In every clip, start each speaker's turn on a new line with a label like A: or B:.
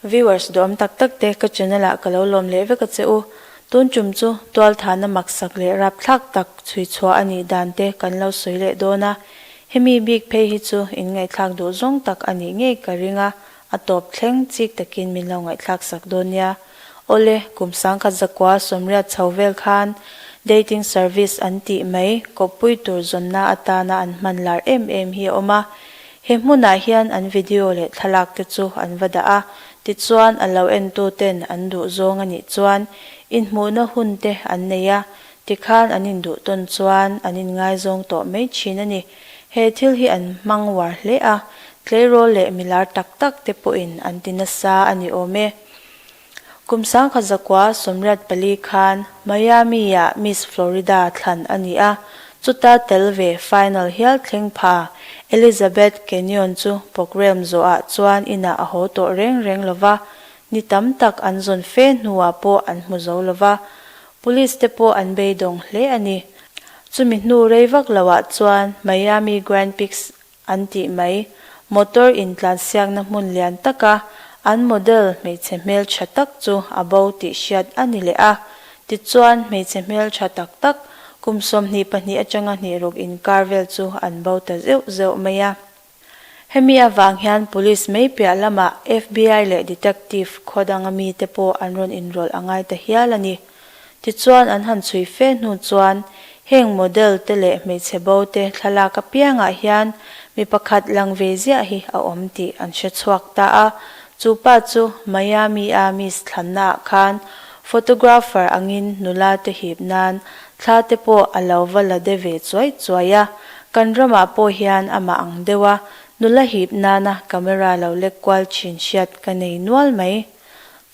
A: Viewers duh awm tak tak te ka channel ah ka lo lawm leh vek a che u. Tun tum chu tualthana maksak leh rapthlak tak chhui chhuah a nih dan te kan lo sawi leh dawn a. Hemi bik phei hi chu in ngaihthlak duh zawng tak a nih ngei ka ring a, a tawp thleng chik takin min lo ngaihthlak sak dawn nia. Aw le, kum sangkhat zakua sawmriat chho vel khan dating service an tih mai, kawppui tur zawnna atana an hmanlar em em hi a awm a, He hmunah hian an video leh thlalak te chu an va dah a, tichuan a lo entu ten an duh zawng a nih chuan inhmuhna hun te an nei a, tikhan an induh tawn chuan an inngaizawng tawh mai thin a ni. He thil hi an hmang uar hle a, tleirawl leh milar tak tak te pawhin an ti nasa a ni awm e. Kum sangkhat zakua sawmriat pali khan Miami-ah Miss Florida thlan a ni a, chuta tel ve final hial thleng pha Elizabeth Kenyon chu programme zawhah chuan inah a haw tawh reng reng lo va, ni tam tak an zawn fe hnuah pawh an hmu zo lo va, Police te pawh an beidawng hle a ni. Chumi hnu rei vak lohah chuan Miami Grand Peaks an tih mai. Motor intlansiakna hmun lian taka an model hmeichhe hmeltha tak chu a bo tih hriat a ni leh a. Tichuan, hmeichhe hmeltha tak tak, kum sawmhnih pahnih atanga hnihruk inkar vel chu an bo ta zeuh zeuh mai a. Hemi avang hian Police mei piah lamah FBI leh Detective khawdanga mite pawh an rawn inrawlh a ngai ta hial a ni. Tichuan an han chhui fe hnu chuan heng model te leh hmeichhe bo te thlalak apiangah hian mi pakhat lang ve ziah hi a awm tih an hre chhuak ta a, chu pa chu Miami-a miss thlannaah khan photographer angin nula te hip nan thla te pawh a lo va la de ve chuai chuai a, kan ramah pawh hian amah ang deuha nula hip nana camera lo lekkual thin hriat ka nei nual mai.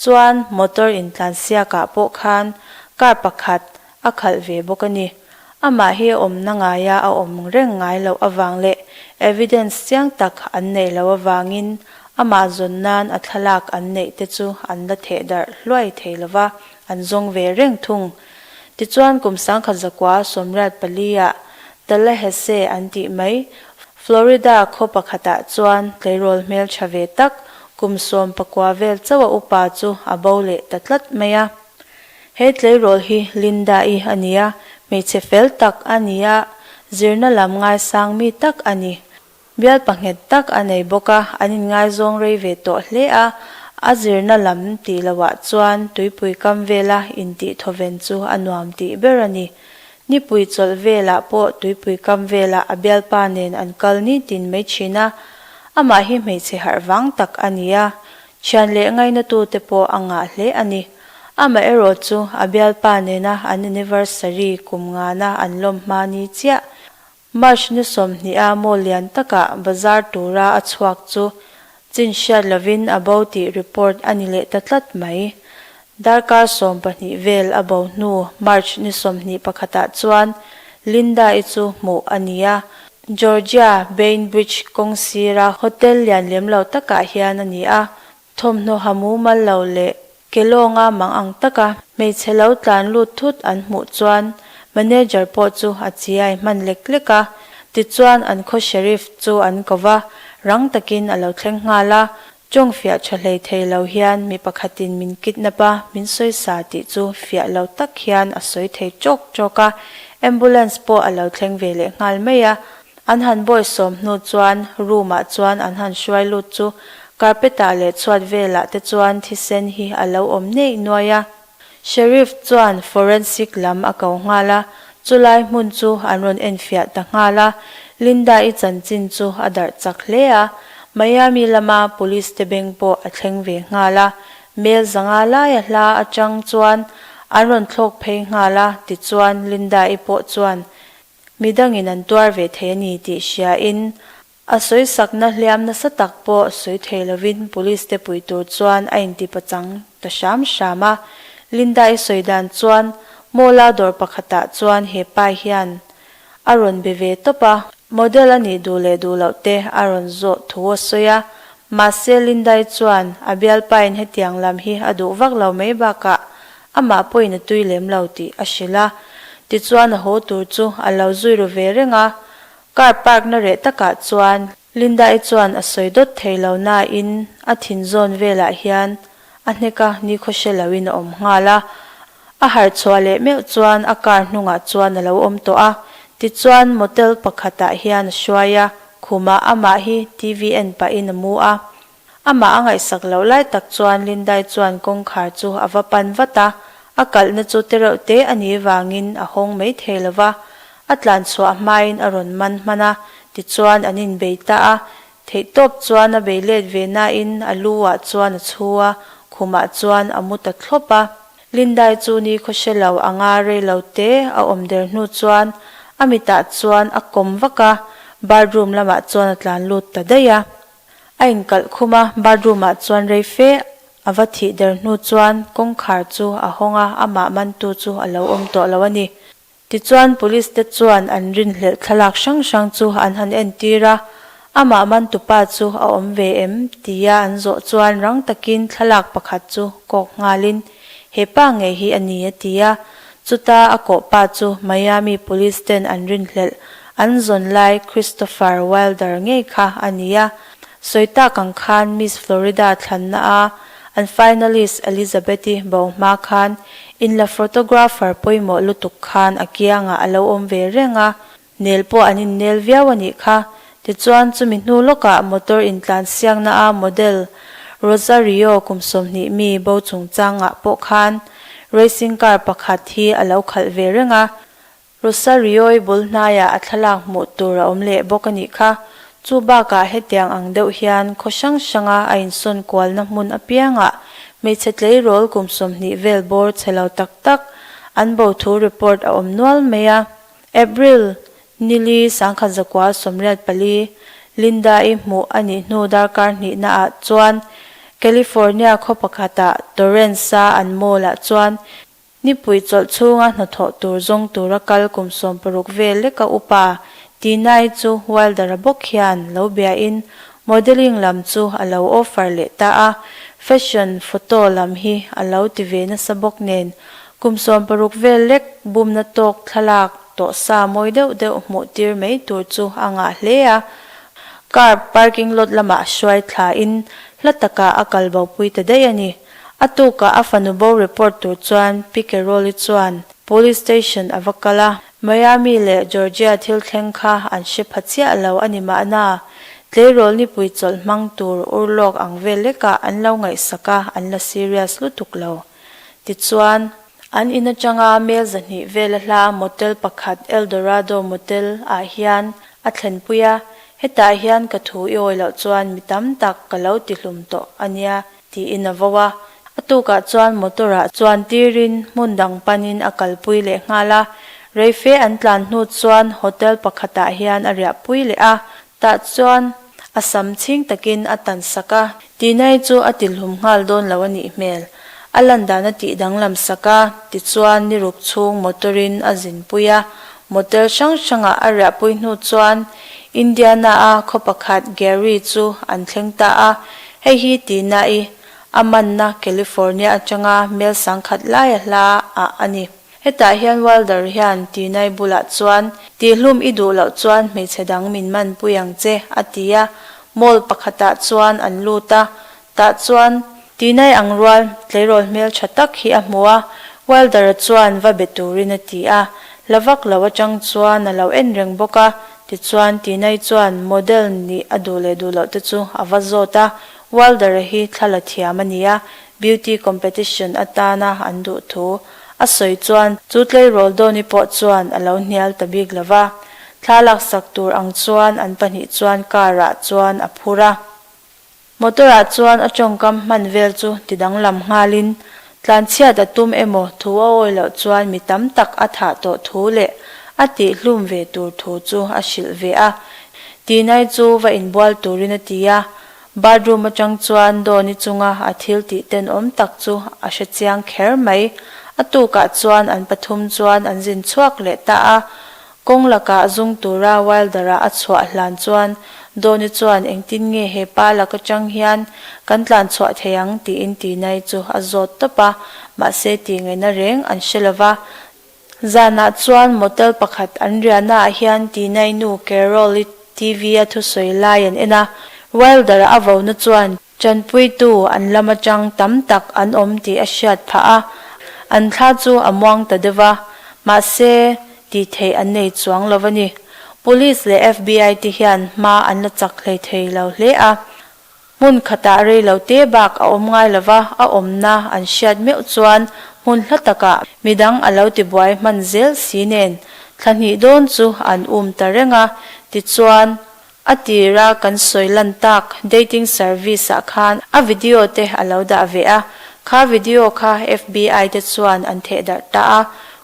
A: Chuan motor in tlan siakah pawh khan car pakhat a khalh ve bawk a ni. Amah hi awmna ngaia a awm reng ngai loh avang leh evidence chiang tak an neih loh avangin amah zawn nan a thlalak an neih te chu an la theh darh hluai thei lova, an zawng ve reng thung. Tichuan kum sangkhat zakua Sawmriat pali ah Tala Hese an tih mai, Florida khaw pakhatah chuan tleirawl hmeltha ve tak kum sawm pakua vel chauha upa chu a bo leh ta tlat mai a. He tleirawl hi Linda-i a ni a, hmeichhe fel tak a ni a, zirna lam ngaisang mi tak a ni. Bialpa nghet tak a nei bawk a, an inngaizawng rei ve tawh hle a, a zirna lam tih lohah chuan tuipui kam vela intihthaw ven chu a nuam tih ber a ni. Nipui chawlh velah pawh tuipui kam velah a bialpa nen an kal nitin mai thin a, amah hi hmeichhe harh vang tak a ni a, thian leh ngainatu te pawh a ngah hle a ni. Amaherawh chu a bialpa nena an anniversary kum ngana an lawm hma ni chiah, March nu sawmhnih a maw lian takah bazar tura a chhuak chu chin hriat lovin a bo tih report a ni leh ta tlat mai. Darkar sawm pahnih vel a bo hnu March ni sawmhnih pakhatah chuan Linda-i chu hmuh a ni a, Georgia Bainbridge kawng sira hotel lian lem lo takah hian a ni a, Thawmhnaw ha mumal lo leh kelawnga mang ang taka hmeichhe lo tlan lut thut an hmuh chuan manager pawh chu a chi a inhman lek lek a, tichuan an khaw sheriff chu an ko va, rang takin a lo thleng nghal a, Chawng fiah tha hlei thei lo hian mi pakhatin min kidnap a, min sawi sa tih chu fiah lo tak hian a sawi thei chawk chawk a, ambulance pawh a lo thleng ve leh nghal mai a, An han bawi sawm hnu chuan room ah chuan an han hruai lut chu carpet ah leh chhuat velah te chuan thisen hi a lo awm neih nuai a. Sheriff chuan forensic lam a ko nghal a, chu lai hmun chu an rawn en fiah ta nghal a, Linda i chanchin chu a darh chak hle a, Miami lama police te beng pawh a thleng ve nghal a, Mel zanga laia hla atang chuan an rawn thlawk phei nghal a tichuan Linda i pawh chuan mi dangin an tuar ve thei a ni tih hria in a sawisakna hliam nasa tak pawh sawi thei lovin police te pui tur chuan a inti pachang ta hram hram a. Linda-i sawi dan chuan mawla dawr pakhatah chuan he pai hian a rawn be ve tawp a, model a nih duh leh duh loh te a rawn zawh thu a sawi a, mahse Linda-i chuan a bialpa in hetiang lam hi a duh vak lo mai bakah Amah pawhin a tui lem lo tih a hrilh a, tichuan a haw tur chu a lo zui ru ve reng a. Car park na reh takah chuan Linda-i chuan a sawi dawt thei lo nain a thin zawn velah hian a hnek a, nikhaw hre loin a awm nghal a. A harh chhuah leh meuh chuan a car hnungah chuan a lo awm tawh a, tichuan motel pakhatah hian a hruai a, khumah amah hi TV en pahin a mu a. Amah a ngaihsak loh lai tak chuan Linda-i chuan kawngkhar chu a va pan vat a, a kalhna chu tereuh te a nih vangin a hawng mai thei lo va, a tlan chhuah hmain a rawn man hman a, tichuan an inbei ta a, theihtawp chuan a bei let ve nain a lu ah chuan a chhu a, khum ah chuan a mu ta thlawp a. Linda-i chu nikhaw hre lo a nga rei lo te a awm der hnu chuan a mitah chuan a kawm vak a, bathroom lamah chuan a tlan lut ta daih a. A inkalh khum a, bathroom ah chuan rei fe a va thih der hnu chuan kawngkhar chu a hawng a, amah mantu chu a lo awm tawh lo a ni. Tichuan Police te chuan an rinhlelh thlalak hrang hrang chu an han entir a, amah mantu pa chu a awm ve em? tia an zawh chuan rang takin thlalak pakhat chu kawk nghalin, Hepa nge hi a ni? a ti a, Chuta a kawh pa chu Miami police ten an rinhlelh an zawn lai Christopher Wilder ngei kha a ni a. Sawi tak ang khan Miss Florida thlanna a an finalist Elizabeth-i bau hma khan in la photographer pawimawh lutuk khan a kiangah a lo awm ve reng a, Nel pawh an innel viau a nih kha. Tichuan chumi hnu lawkah motor intlan siakna a model Rosario kum sawmhnih mi bo chungchangah pawh khan racing car pakhat hi a lo khalh ve reng a. Rosario-i bul hnaiah a thlalak hmuh tur a awm leh bawk a nih kha. Chu bakah hetiang ang deuh hian khaw hrang hranga a insawn kualna hmun apiangah hmeichhe tleirawl kum sawmhnih vel bawr che lo tak tak an bo thu report a awm nual mai a. April, Nili sangkhat zakua sawmriat pali Linda-i hmuh a nih hnu darkar hnihna ah chuan California khaw pakhat ah Torrance-a an mall ah chuan nipui chawlh chhunga hnathawh tur zawng tura kal kum sawm paruk vel leka upa Tina-i chu Wilder-a bawk hian lo bia in Modelling lam chu a lo offer leh ta a, fashion, photo, lam hi a lo ti ve nasa bawk nen, kum sawm paruk vel lek bumna tawk thlalak tawh sa mawi deuh deuh hmuh tir mai tur chu a ngah hle a. Car parking lot lamah hruai thla in hla takah a kal bopui ta daih a ni. A tukah a fanu bo report tur chuan Piquerol-i chuan police station a va kal a, Miami leh Georgia thil thleng kha an hre pha chiah lo a ni mahna, tleirawl nipui chawlh hmang tur ur lawk ang vel lekah an lo ngaihsak a, an la serious lutuk lo. Tichuan, an in atanga mel zahnih vel a hla motel pakhat Eldorado Motel ah hian a thlenpui a, hetah hian ka thu i awi loh chuan mi tam tak ka lo tihlum tawh a nia Tiin a vau a. A tukah chuan motor ah chuan tir in hmun dang pan in a kal pui leh nghal a. Reife an tlan hnu chuan hotel pakhat ah hian a riah pui leh a. Tah chuan a sam chhing tak in a tan sak a. Tinai chu a tilhlum nghal dawn lo a nih hmel. A lan dan a tih danglam sak a. Tichuan ni ruk chhung motor in a zin pui a. Motel hrang hrang ah a riah pui hnu chuan Indiana a khaw pakhat Gary chu an thleng ta a. Hei hi ti na i, a manna California atanga mel sang khat laia hla ah a ni. Hetah hian Wilder hian ti nai bulah chuan, Tihlum i duh loh chuan hmeichhe dang min man pui ang che, a ti a. Mall pakhatah chuan an lut a, tah chuan, Ti nai ang rual, tleirawl hmel tha tak hi a hmu a, Wilder-a chuan va be turin a ti a. Hla vak lo atang chuan a lo en reng bawk a. Tichuan, Tinai chuan model nih a duh leh duh loh te chu a va zawt a, Wilder-a hi thla la thiam a ni a, beauty competition atana an duh thu a sawi chuan chu tleirawl dawni pawh chuan a lo hnial ta bik lo va. Thla laksak tur ang chuan an pahnih chuan car-ah chuan a phur a. Motor-ah chuan a tawngkam hman vel chu tidanglam nghalin tlanchhiat a tum emaw thu a awi loh chuan mi tam tak a thah tawh thu leh a tih hlum ve tur thu chu a hrilh ve a tinai chu va inbual turin a ti a, bathroom atang chuan Dawni chunga a thiltih ten awm tak chu a hre chiang kher mai, a tukah chuan an pathum chuan an zin chhuak leh ta a, Kawng lakah zung tura Wilder-a a chhuah hlan chuan Dawni chuan engtin nge he pa lak atang hian kan tlan chhuah thei ang tiin ti nai chu a zawt tawp a, mahse tih ngaihna reng an hre lo va. Zanah chuan motel pakhat an riahnaah hian Tina-i nu Carol-i TV-a thusawi lai an en a, Wilder-a a vohna chuan Chanpuitu an lam atang tam tak an awm tih a hriat phah a, an thla chu a muang ta deuh va, mahse tih theih an nei chuang lo a ni. Police leh FBI te hian hma an la chak hlei thei lo hle a, hmun khatah rei lo te bak a awm ngai lo va, a awmna an hriat meuh chuan hmun hla takah midang a lo ti buai hman zel si nen thla hnih dawn chu an um ta reng a, tichuan A tir a kan sawi lan tak dating service ah khan a video te a lo dah ve a, kha video kha FBI te chuan an theh darh ta a,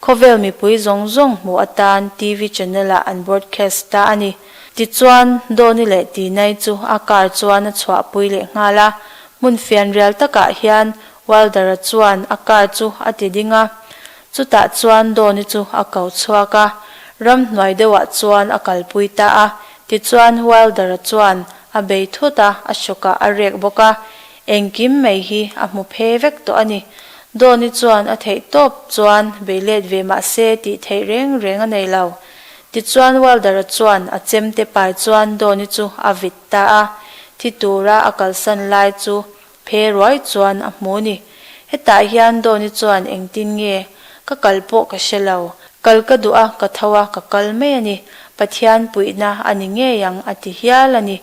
A: khawvel mipui zawng zawng hmuh atan TV channel ah an broadcast ta a ni. Tichuan Dawni leh Tinai chu a car chuan a chhuah pui leh nghal a, hmun fianrial takah hian Wilder-a chuan a car chu a ti ding a, Chutah chuan Dawni chu a kau chhuak a, ramhnuai deuhah chuan a kalpui ta a, tichuan Wilder-a chuan a bei thut a, a sawkah a rek bawk a, engkim mai hi a hmu phe vek tawh a ni. Dawni chuan a theih tawp chuan bei let ve mah se tih theih reng reng a nei lo. Tichuan Wilder-a chuan a chemte pai chuan Dawni chu a vit ta a, thi tura a kalsan lai chu Phe ruai chuan a hmu ni. Hetah hian Dawni chuan engtin nge ka kal pawh ka hre lo. Kal ka duh a, ka tho a, ka kal mai a ni. Pathian puihna a ni ngei ang a ti hial a ni.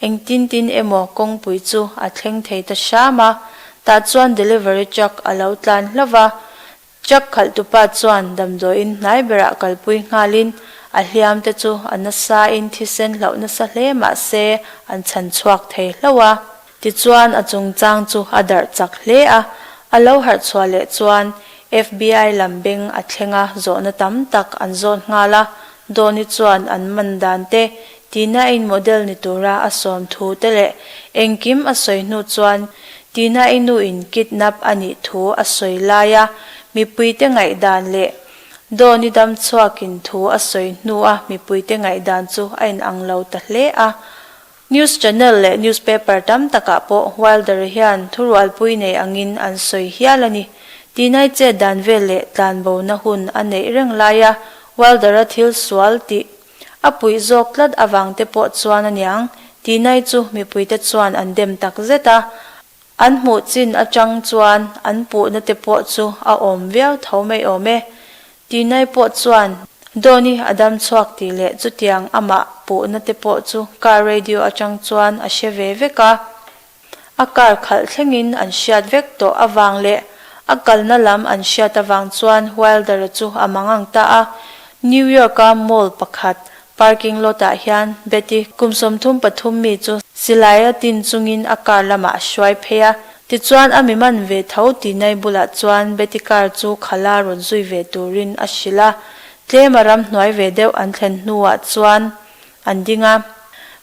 A: Engtin tin emaw kawngpui chu a thleng thei ta hram a. Tah chuan delivery truck a lo tlan hlauh va. Truck khalhtupa chuan damdawiin hnai berah kalpui nghalin a hliamte chu a nasain thisen hlauh nasa hle mah se an chhan chhuak thei hlauh a. Tichuan a chungchang chu a darh chak hle a, a lo harh chhuah leh chuan FBI lam beng a thlenga zawhna tam tak an zawn nghal a, Dawni chuan an man dan te Tina in model ni tura a sawm thu te leh engkim a sawi hnu chuan Tina i nu in kidnap a nih thu a sawi lai a mipuite ngaihdan leh Dawn i dam chhuak in thu a sawi hnu a mipuite ngaihdan chu a in ang lo ta hle a. News channel leh newspaper tam takah pawh Wilder hian thurualpui nei angin an sawi hial a ni. Tinai chet dan vel leh tlanbona hun a neih reng lai a Wilder-a thil sual tih A puih zawk tlat avang te pawh chuan a niang tinai chu mipui te chuan an dem tak zet a, an hmuh chin atang chuan an puh na te pawh chu a awm viau tho mai awm e. Tinai pawh chuan Donny a dam chhuak tih leh chutiang amah puh na te pawh chu car radio atang chuan a hre ve vek a, a kar khalh thlengin an hriat vek tawh avang leh a kalna lam an hriat avang chuan Wilder-a chu a mangang ta a. New York-a mall pakhat parking lot-ah hian Betty, kum sawmthum pathum mi chu silaia tin chungin a kar lamah a hruai phei a. Tichuan a mi man ve tho tinai bulah chuan Betty kar chu khala rawn zui ve turin a hrilh a. Tlema ram hnuai ve deuh an thlen hnuah chuan an ding a,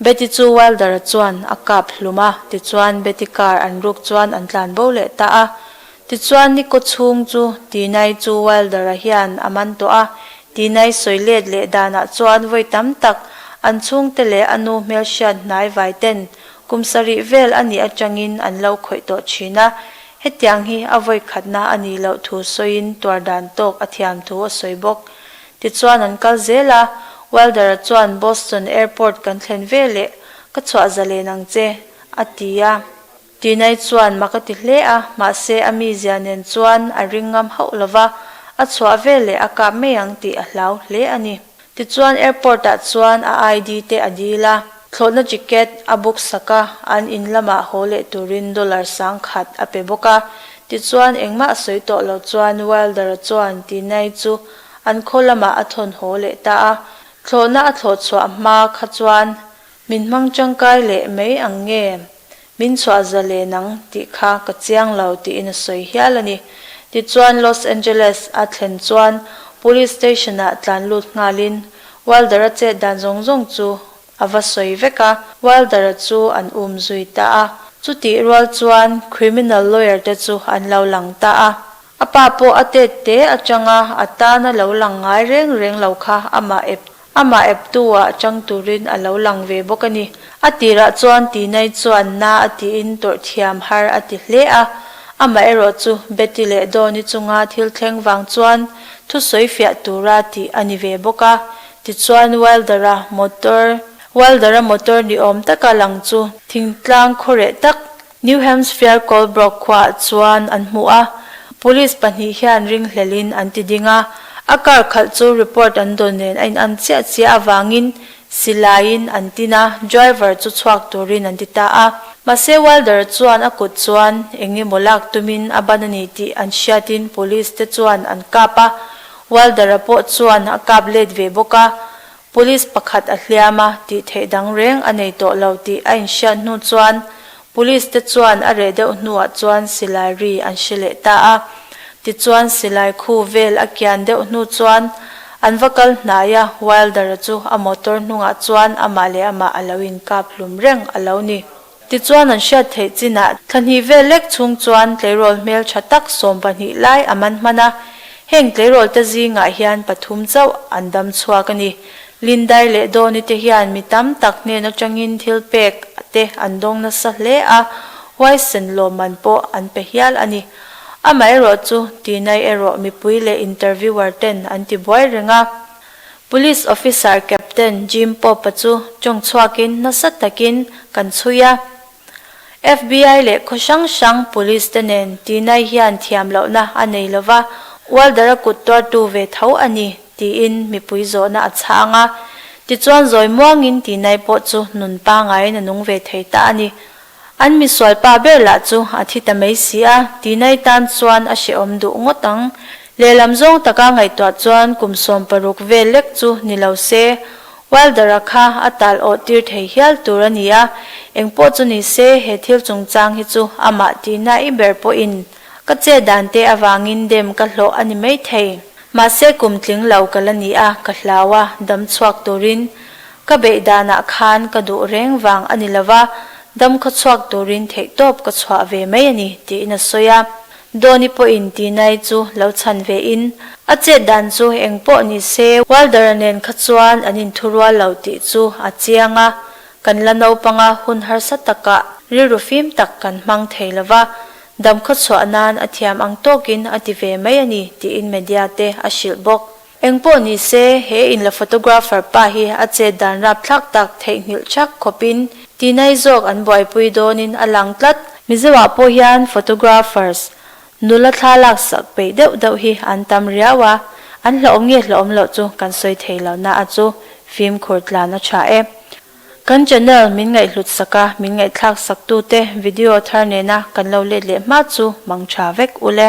A: Betty chu Wilder-a chuan a kap hlum a, tichuan Betty car an ruk chuan an tlan bo leh ta a. Tichuan Nico chhung chu Tinai chu Wilder-a hian a man tawh a, Tinai sawi let leh danah chuan vawi tam tak an chhungte leh a nu hmelhriat hnai vai ten kum sarih vel a nih atangin an lo khawih tawh thin a, hetiang hi a vawi khatna a nih loh thu sawiin tuar dan tawk a thiam thu a sawi bawk. Tichuan an kal zel a, Wilder-a chuan Boston Airport kan thlen ve leh, ka chhuah za len ang che, a ti a. Tinai chuan ma ka ti hle a, mahse a mizia nen chuan a ring ngam hauh lo va, a chhuah ve leh a kap mai ang tih a hlau hle a ni. Tichuan Airport-ah chuan a ID te a dil a, thlawhna ticket a book sak a, an in lamah haw leh turin dollar sang khat a pe bawk a. Tichuan engmah a sawi tawh loh chuan Wilder-a chuan Tinai chu an khaw lamah a thawn haw leh ta a, thlawhna a thlawh chhuah hma kha chuan min hmang tangkai leh mai ang nge, min chhuah za len ang tih kha ka chiang lo tiin a sawi hial a ni. Tichuan Los Angeles a thlen chuan Police Station-ah tlanlut nghalin Wilder-a chet dan zawng zawng chu a va sawi vek a, Wilder-a chu an um zui ta a, chutih rual chuan criminal lawyer te chu an lo lang ta a, a pa pawh a tet te atanga a tana lo lang ngai reng reng lo kha amah ep amah ep tu-ah atang turin a lo lang ve bawk a ni. A tirah chuan Tinai chuan na a tiin tawrh thiam har a ti hle a, amaherawh chu Betty leh Donny chunga thil thleng vang chuan thusawi fiah tura tih a ni ve bawk a, Tichuan Wilder-a motor Wilder-a motor ni awm taka lang chu thingtlang khaw reh tak New Hampshire Colebrook khuaah chuan an hmu a, Police pahnih hian ring hlelhin an ti ding a, a car khalh chu report an dawn nen a inarm chiah chiah avangin silaiin an tin a, driver chu chhuak turin an ti ta a. Mahse Wilder-a chuan a kut chuan eng emaw lak tumin a ban a ni tih an hriatin Police te chuan an kap a, Walder-a pawh chuan a kap let ve bawk a, Police pakhat a hliam a, tih theih dang reng a nei tawh lo tih a inhriat hnu chuan Police te chuan a reh deuh hnuah chuan silai ri an hre leh ta a. Tichuan silai khu vel a kian deuh hnu chuan an va kal hnai a, Wilder-a chu a motor hnungah chuan amah leh amah a lo inkap hlum reng a lo ni. Tichuan an hriat theih chinah thlahnih vel lek chhung chuan tleirawl hmel tha tak sawm pahnih lai a man hman a, heng tleirawlte zingah hian pathum chauh an dam chhuak a ni. Lindai leh Dawni te hian mi tam tak nen atangin thil pek te an dawng nasa hle a, huaisen lawmman pawh an pe hial a ni. Amaherawhchu, tinai erawh mipui leh interviewer ten an ti buai reng a. Police Officer Captain Jim Pope-a chu tawng chhuakin nasa takin kan chhui a, FBI leh khaw hrang hrang police te nen tinai hian thiam lohna a nei lo va, ualdar a kut tuartu ve tho a ni, tiin mipui zawhna a chhang a. Tichuan zawi muangin tinai pawh chu nun pangai na nung ve thei ta a ni. An misual pa ber lah chu a thi ta mai si a, tihna itan chuan a hrehawm duh ngawt ang. Lehlam zawng taka ngaihtuah chuan kum sawm paruk vel lek chu ni lo se, Wilder-a kha a tal awh tir thei hial tur a ni a, engpawh chu ni se he thil chungchang hi chu amah tihna i ber pawhin ka che dan te avangin dem ka hlawh a ni maithei. Mahse kum tling lo ka la ni a, ka hlau a, dam chhuak turin Ka beih danah khan ka duh reng vang a ni lo va, dam khaw chhuak turin theihtawp ka chhuah ve mai a ni, tiin a sawi a. Dawni pawhin tinai chu lo chhan ve in, A chet dan chu eng pawh ni se, Walder-a nen kha chuan an inthu rual lo tih chu a chiang a, kan la naupanga hun harsa takah rilru fim tak kan hmang thei lo va, dam khaw chhuah nan a thiam ang tawkin a ti ve mai a ni, tiin media-te a hrilh bawk. Engpawh ni se, he in la photographer pa hi a chet dan rap thlak tak, theihnghilh chak khawp in, tinai zawk an buaipui dawn in a lang tlat. Mizo ah pawh hian photographers nula thla lak sak peih deuh deuh hi an tam riau a, an hlauhawm nge hlauhawm loh chu kan sawi thei lo na a chu fimkhur tlan a tha e. Kan channel min ngaihhlut sak a, min ngaihthlak sak tu te video thar nena kan lo let leh hma chu mang tha vek ule.